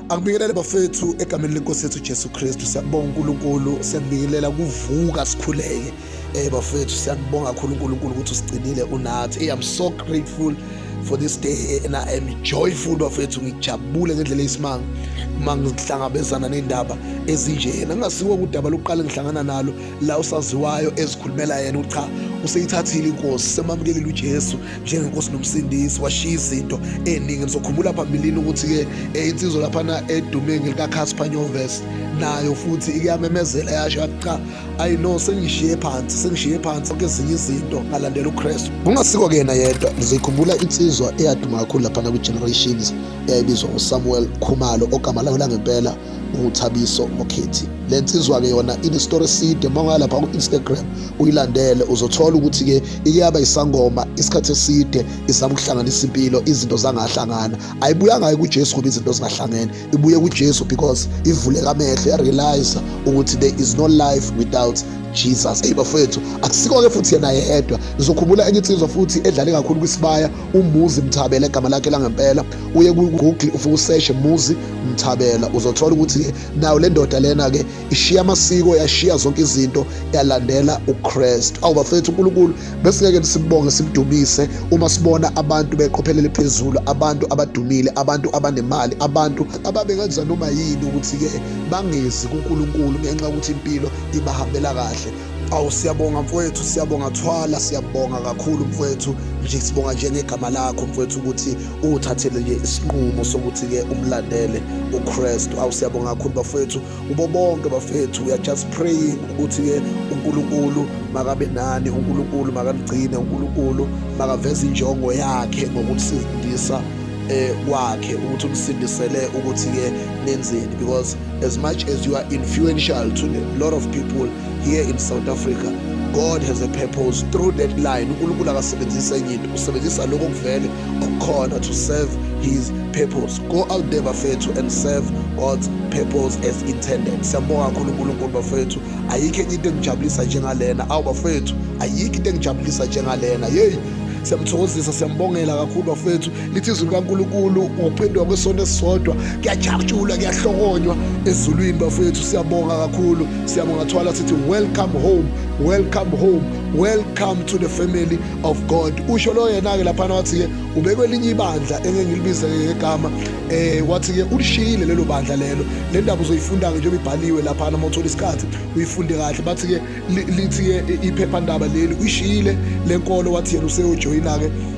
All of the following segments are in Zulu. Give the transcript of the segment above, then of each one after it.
Angibingelele bafethu egameni lenkosi yethu Jesu Kristu siyabonga uNkulunkulu siyabingelela kuvuka sikhuleke eh bafethu siyabonga kakhulu uNkulunkulu ukuthi usigcinile unathi hey I'm so grateful for this day and I am joyful bafethu ngijabule ngendlela eyisimanga uma ngihlangabezana nendaba ezinjena ngingasiwo kudaba lokuqala ngihlangana nalo la usaziwayo ezikhulumela yena ucha useyithathile inkosi semamukelile uJesu njengenkosi nomsindisi washiya izinto eningi ngizokhumbula phambilini ukuthi-ke eh, insizwa laphana edume ngelikakhasphanyoves nayo futhi ikuyamemezela yasho yathi cha ayi no sengishiye phansi sengishiye phansi onke ezinye izinto ngalandela ukristu kungasiko kuyena yedwa ngizikhumbula insizwa eyaduma kakhulu laphana kwi-generations eyayibizwa usamuel khumalo ogama layo langempela uThabiso Mokhethi le nsizwa-ke yona inestori eside uma ungalapha ku-instagram uyilandele uzothola ukuthi-ke ike yaba isangoma isikhathi eside izama ukuhlanganisa impilo izinto zangahlangana ayibuyanga-ke kujesu ngoba izinto zingahlangene ibuye kujesu because ivuleka amehlo yarealiza ukuthi there is no life without jesus eyi bafowethu akusiko-ke futhi yena yedwa ngizokhumbula enye insizwa futhi edlale kakhulu kwisibaya umbuzi mthabela egama lakhe langempela uye ku-google ufike useshe muzi mthabela uzothola ukuthi nayo le ndoda lena-ke ishiya amasiko yashiya zonke izinto yalandela ukristu awu bafethu unkulunkulu besingeke nisibonge simdumise uma sibona abantu beqophelele phezulu abantu abadumile abantu abanemali abantu ababengenza noma yini ukuthi-ke bangezi kunkulunkulu ngenxa yokuthi impilo ibahambela kahle awu siyabonga mfowethu siyabonga thwala siyabonga kakhulu mfowethu nje sibonga nje ngegama lakho mfowethu ukuthi uthathele nje isinqumo sokuthi ke umlandele uKristu awu siyabonga kakhulu bafowethu ubo bonke bafethu we are just praying ukuthi ke uNkulunkulu makabe nani uNkulunkulu makanigcine uNkulunkulu makaveze injongo yakhe ngokusindisa eh kwakhe ukuthi unisindisele ukuthi ke nenzeni because As much as you are influential to a lot of people here in South Africa, God has a purpose through that line. uNkulunkulu akasebenzisa enye into usebenzisa lokho kuvele okukhona to serve his purpose go out there bafethu and serve God's purpose as intended siyambonga kakhulu uNkulunkulu bafethu ayikho enye into engijabulisa njengalena awu bafethu ayikho into engijabulisa njengalena yeyi siyamthokozisa siyambongela kakhulu bafethu lithi izwi likaNkulunkulu ukuphenduka kwesono esisodwa kuyajatshulwa kuyahlokonywa ezulwini bafowethu siyabonga kakhulu siyabonga thwala sithi welcome home welcome home welcome to the family of god usho lo yena-ke laphana wathi-ke ubekwe elinye ibandla engengilibize ngegama eh wathi-ke ulishiyile lelo bandla lelo le ndaba uzoyifunda-ke njengoba ibhaliwe laphana uma uthola isikhathi uyifunde kahle bathi-ke lithi-ke iphephandaba leli uyishiyile le nkolo wathi yena useyojoyina-ke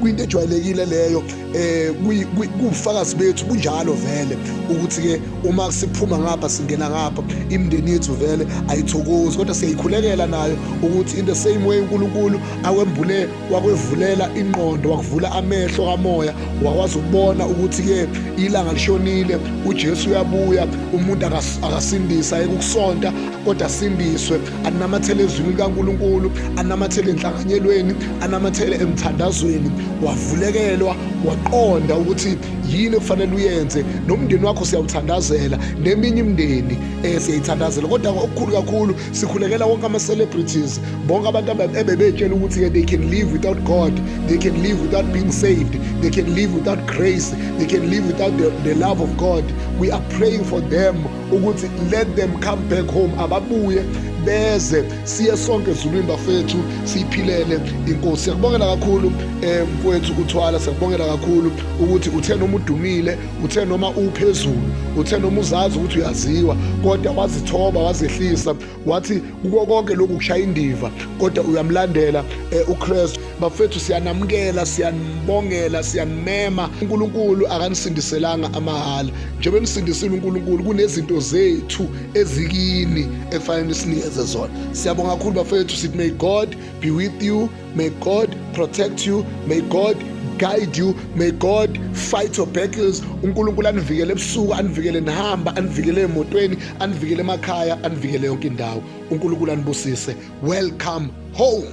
kuyinto ejwayelekile leyo eh kufakazi bethu kunjalo vele ukuthi ke uma siphuma ngapha singena ngapha imndeni yethu vele ayithokozi kodwa siyayikhulekela nayo ukuthi in the same way uNkulunkulu awembule wakwevulela ingqondo wakuvula amehlo kamoya wakwazi ukubona ukuthi ke ilanga lishonile uJesu uyabuya umuntu akasindisa ekukusonta kodwa sindiswe anamathele ezwini likaNkulunkulu anamathele enhlanganyelweni anamathele emthandazweni wavulekelwa waqonda ukuthi yini okufanele uyenze nomndeni wakho siyawuthandazela neminye imndeni eh, siyayithandazela kodwa okukhulu kakhulu sikhulekela wonke ama-celebrities bonke abantu ebebetshela ukuthi-ke they can live without god they can live without being saved they can live without grace they can live without the, the love of god we are praying for them ukuthi let them come back home ababuye beze siye sonke ezulwini bafethu siyiphilele inkosi siyakubongela kakhulu um eh, kwethu uthwala siyakubongela kakhulu ukuthi uthe noma udumile uthe noma uphezulu uthe noma uzazi ukuthi uyaziwa kodwa wazithoba wazehlisa wathi kuko konke lokhu kushaya indiva kodwa uyamlandela eh, uKristu bafethu siyanamukela siyanibongela siyanimema uNkulunkulu akanisindiselanga amahala njengoba nisindisile uNkulunkulu kunezinto zethu ezikini ekufanele sinikeze zona siyabonga kakhulu bafethu sithi may God be with you May God protect you. May God guide you. May God fight your battles. UNkulunkulu anivikele ebusuku, anivikele nihamba, anivikele emotweni, anivikele emakhaya, anivikele yonke indawo. UNkulunkulu anibusise. Welcome home.